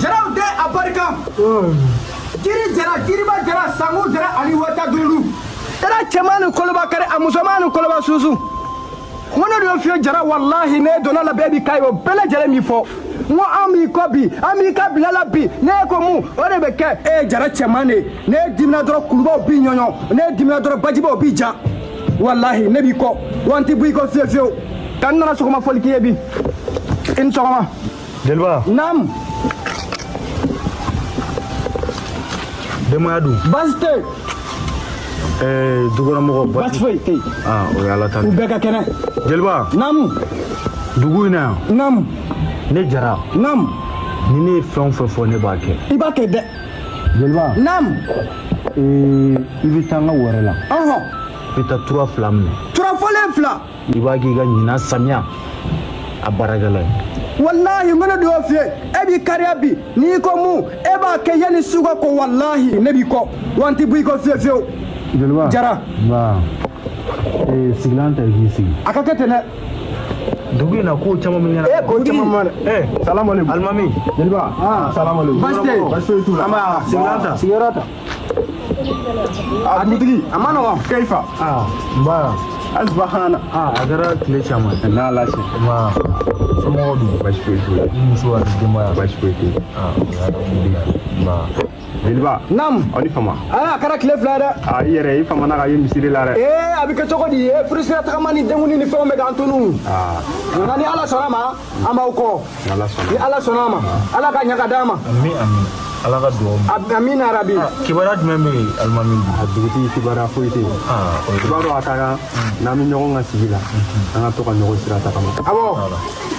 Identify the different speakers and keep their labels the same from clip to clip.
Speaker 1: jaraw tɛ abarika kiri jara kiriba jara sango jara ani wata dulu jara cɛman ni koloba kari a musoman ni koloba susu n ko ne de y'o fiyɛ jara walahi ne donna la bɛɛ b'i ka ye o bɛɛ lajɛlen min fɔ n ko an b'i kɔ bi an b'i ka bila la bi n'e ko mun o de bɛ kɛ e ye jara cɛman de ye n'e dimina dɔrɔn kulubaw b'i ɲɔɲɔ n'e dimina dɔrɔn bajibaw b'i ja walahi ne b'i kɔ wa n tɛ bɔ i kɔ fiyewu fiyewu nka n nana sɔgɔma foli k'i ye bi i ni sɔgɔma jeliba
Speaker 2: naamu denbaya dun baasi tɛ yen
Speaker 1: ɛɛ
Speaker 2: dukɔnɔmɔgɔ baasi foyi tɛ
Speaker 1: yen aa o ye ala ta
Speaker 2: u bɛɛ ka
Speaker 1: kɛnɛ jeliba naamu dugu in
Speaker 2: na yan naamu
Speaker 1: ne jara
Speaker 2: naamu
Speaker 1: ni ne ye
Speaker 2: fɛn o fɛn fɔ ne b'a kɛ i b'a kɛ dɛ
Speaker 1: jeliba naamu
Speaker 2: ee, i bɛ taa n ka wɛrɛ la ɔhɔn i
Speaker 1: bɛ taa
Speaker 2: tura fila minɛ tura fɔlen fila
Speaker 1: i b'a k'i ka ɲinan
Speaker 2: samiya baarakɛlan ye walahi n bɛna
Speaker 1: dugawu f'i ye e b'i kariya bi n'i ko mun e b'a kɛ yanni su ka ko walahi ne b'i kɔ wa n tɛ bɔ i kɔ fiyewu fiyewu jeliba Jara.
Speaker 2: nba
Speaker 1: ee,
Speaker 2: sigilan ta i k'i sigi a ka kɛ ten dɛ dugu in na ko caman bɛ ɲɛna. ee ko caman bɛ ɲɛna.
Speaker 1: ee salamu aleykum.
Speaker 2: alimami. jeliba.
Speaker 1: aa salamu aleykum. baasi tɛ yen. baasi foyi t'u la. nba.
Speaker 2: sigilan ta. sigiyɔrɔ ta.
Speaker 1: a dugutigi. a ma nɔgɔn. keyifa. aa n
Speaker 2: ba. asiba
Speaker 1: hana. aa a
Speaker 2: kɛra tile caman. n'a lase. nba somɔgɔw dun. baasi foyi t'u la. i muso ani denbaya. baasi foyi t'u la. aa o y'a dɔn. nba. jeliba naamu aw ni
Speaker 1: fama aa
Speaker 2: a kɛra tile fila ye
Speaker 1: dɛ a i yɛrɛ i famana
Speaker 2: ka ye misiri la dɛ ee a bɛ kɛ cogo
Speaker 1: di e furusira tagama ni denkuni ni fɛnw bɛ k'an tunu nka ni ala sɔnna ma an b'aw kɔ ni ala sɔnna ma ala k'a ɲɛ k'a d'an ma ami
Speaker 2: ami ala ka dugawu minɛ amina yarabi
Speaker 1: kibaruya jumɛn bɛ
Speaker 2: yen alimami a dugutigi
Speaker 3: kibaruya foyi tɛ yen i b'a dɔn a ka kan n'an bɛ ɲɔgɔn ka sigi la an ka to ka ɲɔgɔn sira tagama awɔ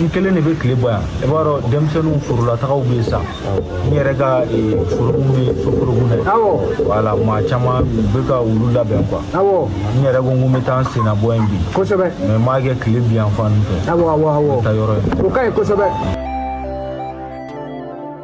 Speaker 1: n kelen de
Speaker 2: bɛ tile bɔ yan i b'a dɔn denmisɛnninw forolatagaw bɛ yen sa n yɛrɛ ka forokun bɛ soforokun na awɔ wala maa caman bɛ ka olu labɛn kuwa awɔ n yɛrɛ ko n ko n bɛ taa n senna bɔ yen bi kosɛbɛ mɛ n b'a
Speaker 1: kɛ
Speaker 2: tile bi yan fan fɛ awɔ awɔ awɔ taa yɔrɔ in o ka ɲi kosɛbɛ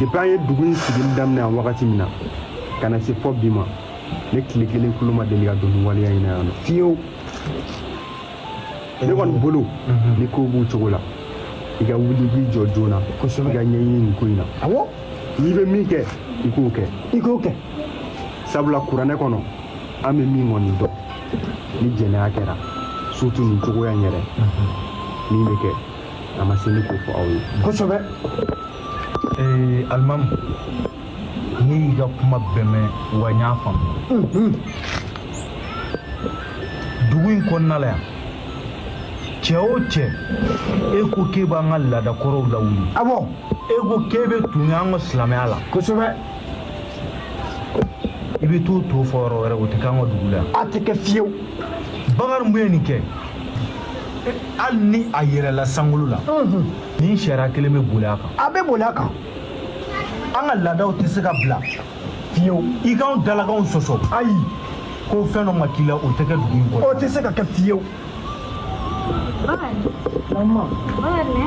Speaker 3: depi an ye dugu in sigili daminɛ yan wagati min na ka na se fɔ bi ma ne tile kelen kulo ma deli ka don nin waleya in na yan nɔ fiyewu ne kɔni bolo ni kow b'u cogo la i ka wuli i k'i jɔ joona i ka ɲɛɲini nin ko in na awɔ n'i bɛ min kɛ i k'o kɛ i k'o kɛ sabula kuranɛ kɔnɔ an bɛ min kɔni dɔn ni jɛnɛya kɛra surtu nin cogoya in yɛrɛ min bɛ kɛ a ma se ne k'o fɔ aw ye
Speaker 1: kosɛbɛ
Speaker 2: ee alimamu ne y'i ka kuma bɛɛ mɛn wa n y'a faamu dugu in kɔnɔna la yan cɛ o cɛ e ko k'e b'an ka laadakɔrɔw lawuli awɔ e ko k'e bɛ tun y'an ka silamɛya la kosɛbɛ i bɛ t'o tɔ fɔ yɔrɔ wɛrɛ o tɛ k'an ka dugu la
Speaker 1: yan
Speaker 2: a tɛ kɛ fiyewu bakari mun
Speaker 1: ye nin
Speaker 2: kɛ hali ni a yɛrɛla sankolo la nin sariya kelen bɛ boli a kan a bɛ boli a kan an ka laadaw tɛ se ka bila fiyewu i k'anw dalakanw sɔsɔ ayi ko fɛn dɔ ma k'i la o tɛ kɛ dugu in kɔnɔ o tɛ se ka kɛ fiyewu
Speaker 4: Bakari. Bakari.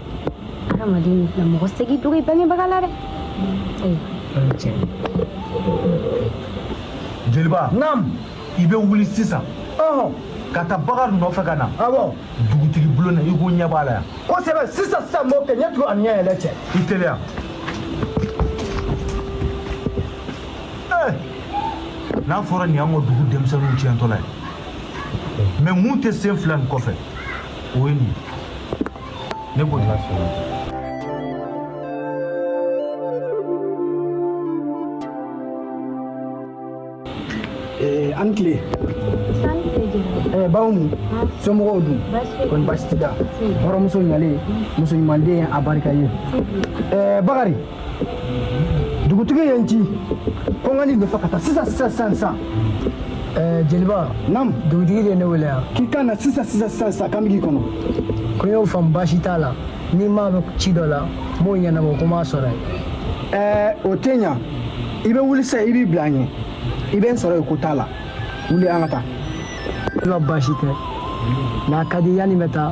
Speaker 5: adamaden ni filɛ mɔgɔ tɛ se k'i dogo i bangebaga la
Speaker 2: dɛ jeliba naamu i
Speaker 1: bɛ wuli
Speaker 2: sisan ka taa bakari nɔfɛ ka na awɔ dugutigi
Speaker 1: bulon na
Speaker 2: i ko ɲɛ b'a la yan kosɛbɛ sisan sisan
Speaker 1: n b'o kɛ ɲɛ tugu ani ɲɛ yɛlɛ cɛ i
Speaker 2: teliya n'a fɔra nin y'an ka dugu denmisɛnninw tiɲɛtɔla ye mais mun tɛ sen fila nin kɔfɛ o ye nin ye Ne bu?
Speaker 1: Eh, a ni tile eh, baw nu somɔgɔw dun kɔni baasi t'i la hɔrɔnmuso ɲalen muso ɲumanden a barika ye eh, bakari dugutigi ye n ci ko n ka n'i nɔfɛ ka taa sisan sisan sisan sisan
Speaker 4: eh, jeliba
Speaker 1: naamu dugutigi de ye ne wele yan
Speaker 4: k'i ka na sisan sisan
Speaker 1: sisan sisan k'an bɛ k'i kɔnɔ ko n y'o faamu
Speaker 4: baasi t'a la ni maa bɛ ci dɔ la n b'o ɲɛnabɔ o kɔ n b'a sɔrɔ yen eh, o tɛ
Speaker 1: ɲa i bɛ wuli sisan i b'i bila an ɲɛ i bɛ n sɔrɔ yen ko t'a la wuli an ka taa ne ka
Speaker 4: baasi tɛ n'a ka di yanni n bɛ taa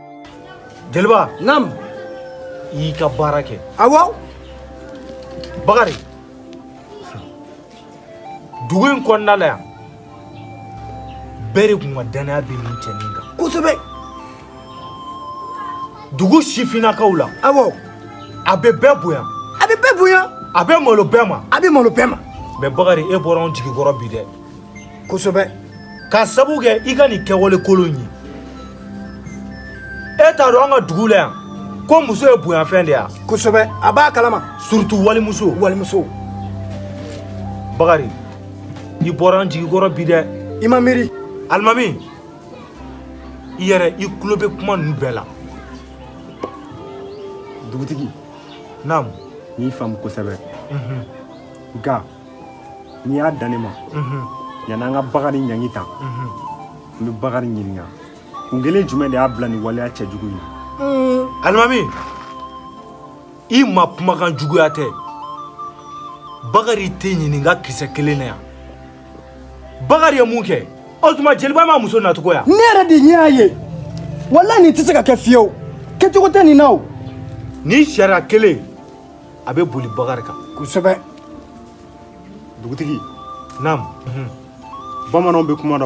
Speaker 2: Jeliba
Speaker 1: naamu i
Speaker 2: y'i ka baara kɛ awɔ bakari dugu in kɔnɔna la yan bɛɛ de tun ka dannaya bɛ nin cɛnin kan kosɛbɛ dugu sifinnakaw la
Speaker 1: awɔ a bɛ
Speaker 2: bɛɛ bonya a bɛ bɛɛ bonya
Speaker 1: a bɛ malo bɛɛ ma
Speaker 2: a bɛ malo bɛɛ ma
Speaker 1: mais bakari e bɔra
Speaker 2: anw jigi kɔrɔ bi dɛ
Speaker 1: kosɛbɛ k'a
Speaker 2: sabu kɛ i ka nin kɛwale kolon ye e t'a dɔn an ka dugu la yan ko muso ye bonyafɛn de ye kosɛbɛ a b'a
Speaker 1: kalama surtout walimuso
Speaker 2: walimuso bakari i bɔra n jigi kɔrɔ bi dɛ i ma
Speaker 1: miiri
Speaker 2: alimami i yɛrɛ i tulo bɛ kuma ninnu bɛɛ
Speaker 3: la dugutigi naamu
Speaker 2: n y'i faamu
Speaker 3: kosɛbɛ nka n'i y'a dan ne ma yanni an ka bakari ɲangi ta n bɛ bakari ɲininka kun kelen jumɛn de y'a bila nin waleya cɛjugu in na alimami
Speaker 2: i ma kumakan juguya tɛ bakari tɛ ɲininka kisɛ kelen na yan bakari ye mun kɛ o tuma jeliba ma muso nacogoya ne yɛrɛ de ɲɛ y'a ye
Speaker 1: walayi nin tɛ se ka kɛ fiyewu kɛcogo tɛ nin na o nin sariya
Speaker 2: kelen a bɛ boli bakari kan kosɛbɛ
Speaker 3: dugutigi naam bamananw bɛ kuma dɔ